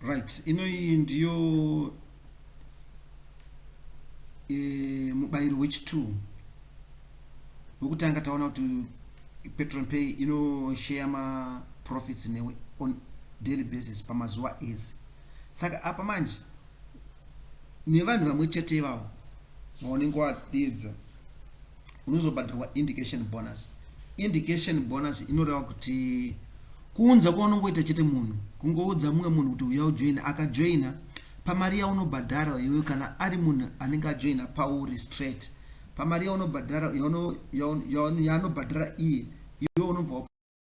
right ino iyi ndiyo e, mubayiro wechitu wekutanga taona kuti patron pay inosheya maprofits newe on daily basis pamazuva ese saka apa manje nevanhu vamwe chete ivavo vaunenge wadedza unozobhadharwa indication bonus indication bonus inoreva kuti kuunza kwaunongoita chete munhu kungoudza mumwe munhu kuti uya ujoina akajoina pamari yaunobhadhara iwe kana ari munhu anenge ajoina pauri straight pamari yaunobhadhara yaanobhadhara iye iwe unobva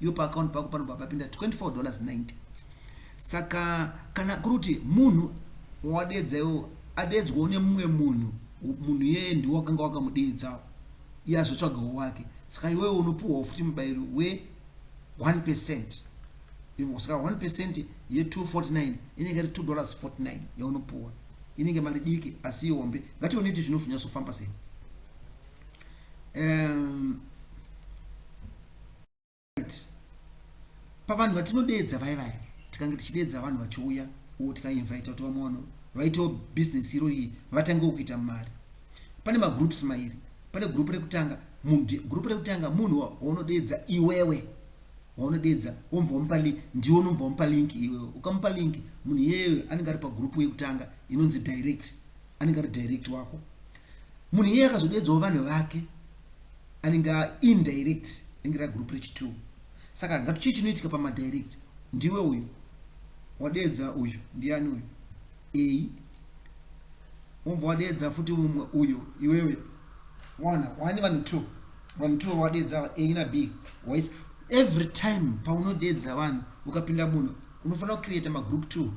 Iwe pa account pako panobva papinda 24 dollars 90 saka kana kuri kuti munhu wawadeedza iwo adeedzwawo nemumwe munhu munhu iyeye ndiwo wakanga wakamudeedzawo iye azotsvagawo wake saka iwewe unopiwawo futi mubayiro we 1 percent saka 1 percent ye 249 inenge iri 2 dollars 49 yaunopiwa inenge mari diki asi ihombe ngatione kuti zvinozonyasofamba sei um, right pavanhu vatinodeedza vaye vaye tikange tichideedza vanhu vachiuya o tikainvita kuti vamwe vanhu vaitewo business iro iyi vatangewo kuita mari pane magroups mairi pane group rekutanga group rekutanga munhu waunodeedza iwewe waunodeedza womva wamupa link ndiwe unomva wamupa link iwewe ukamupa link munhu iyeyo anenge ari pagroup yekutanga inonzi direct anenge ari direct wako munhu iyeye akazodeedzawo vanhu vake anenge a indirect ringe ra group rechi two saka ngati chii chinoitika pama direct ndiwe uyu wadeedza uyu ndiani uyu a wobva wadeedza futi umwe uyu iwewe wana wani vanhu two vanhu two wadeedza ava a na b wise every time paunodeedza vanhu ukapinda munhu unofanira kucreata magroup two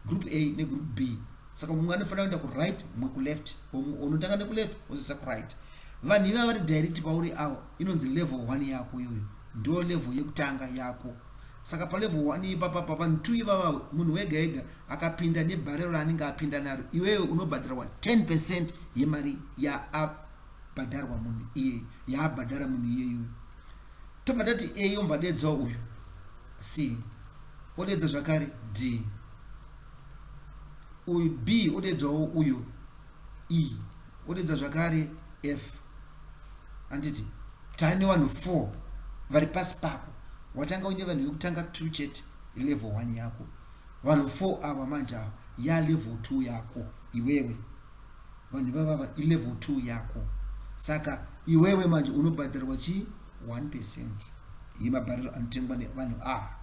group a negroup b saka mumwe anofanira kuenda kuright mumwe kuleft unotanga nekuleft wozoisa kuright vanhu ivava vari direct pauri awo inonzi level one yako iyoyo ndo level yekutanga yako saka palevel one ipapa pavanhu two ivava munhu wega ega akapinda nebharero raanenge apinda naro iwewe unobhadharwa 10 percent yemari yaabhadharwa munhu iyeyo yaabhadhara munhu iyeyo tobva tati a yombadedzawo uyu c odedza zvakare d uyu b odeedzawo uyu e odeedza zvakare f handiti tave nevanhu four vari pasi pako watanga uine vanhu vekutanga two chete level one yako vanhu four ava manje ava yalevel two yako iwewe vanhu ivavava ilevel two yako saka iwewe manje unobhadharwa chii one percent yemabhariro anotengwa nevanhu ava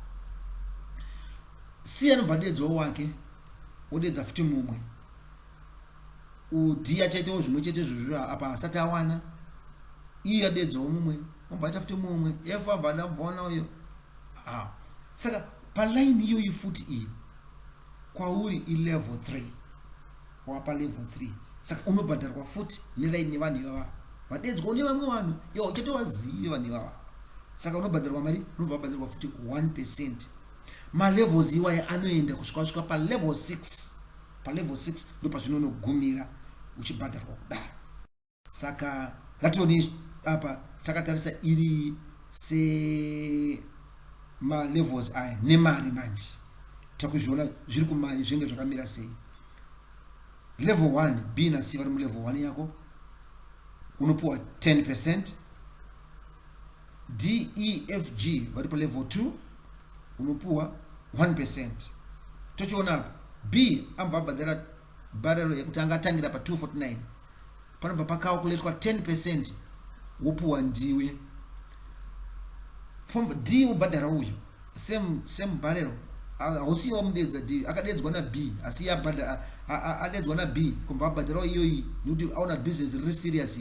Siya anobva adedzwawo wake wodedza futi mumwe. Udhiya chaitewo zvimwe chete izvozvo apa hasati awana. Iyo adedzwawo mumwe obva aita futi mumwe. F abva adabvawana uyo. Ah. Saka paline iyoyi futi iyi kwauri ilevel 3 wapa level 3 saka unobhadharwa futi nelaini nevanhu ivava vadedzwawo nevamwe vanhu iwo uchatovazive vanhu ivava saka unobhadharwa mari unobva wabhadharwa futi 1 percent Malevels iwaya anoenda kusvika wasvika palevel 6. Palevel 6 ndopazvinonogumira uchibhadharwa kudaro. Saka ngatione apa takatarisa iri se malevels aya nemari manje takuzviona zviri kumari zvinenge zvakamira sei level 1 b na c vari mulevel 1 yako unopiwa 10 percent DEFG vari palevel 2 unopuwa 1%. Tochiona apa B anobva abhadhara barrel yekuti anga atangira pa 249 panobva pacalculatwa 10% wopuwa ndiwe. From D wobhadhara uyu same same barrel hausiyo wamudeedza D akadeedzwa na B asi iye abhadhara adeedzwa na B kubva abhadharawo iyoyi nekuti aona business riri serious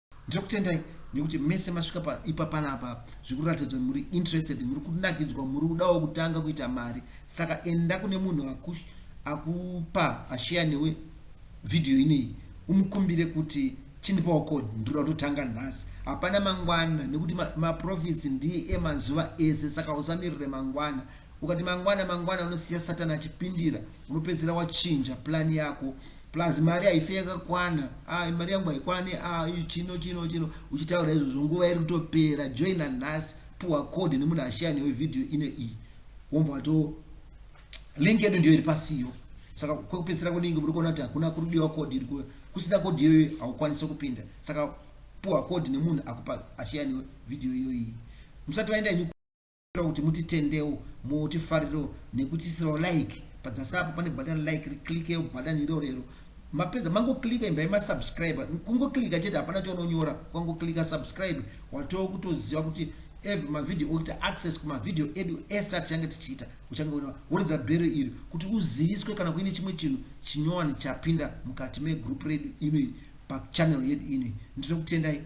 ndiri kutendai nekuti mese masvika paipa panapa zvikuratidza kuti muri interested muri kunakidzwa muri kudawo kutanga kuita mari saka enda kune munhu akupa asheya newe vhidhiyo ineyi umukumbire kuti chindipawo code ndiri kutotanga nhasi hapana mangwana nekuti maprofits ndiye emazuva ese saka usamirire mangwana Ukati mangwana mangwana unosiya Satan achipindira unopedzisira wachinja plan yako plus mari haife yakakwana ah mari yangu haikwane ah chino chino chino uchitaura izvozvo nguva iri kutopera joina nhasi puwa code nemunhu ashaya newe video ine iyi womva wato link yedu ndiyo iri pasi iyo saka kwekupedzisira kudingi muri kuona kuti hakuna kuri kudiwa code iri kusina code iyoyo haukwanise kupinda saka puwa code nemunhu akupa ashaya newe video iyoyi musati vaenda inyu Tinoda kuti mutitendewo mutifariro nekutiisirawo like padzasi apo pane button like riklickeo button irorero mapedza mangoklicker imbai masubscribe kungoklicker chete hapana chaunonyora kungoklicker subscribe watoo kutoziva kuti every mavideo okuita access kumavideo edu ese atichange tichiita uchange uina woridza bhero iri kuti uziviswe kana kuine chimwe chinhu chinyowani chapinda mukati megroup redu inoyi pachannel yedu inoyi ndinokutendai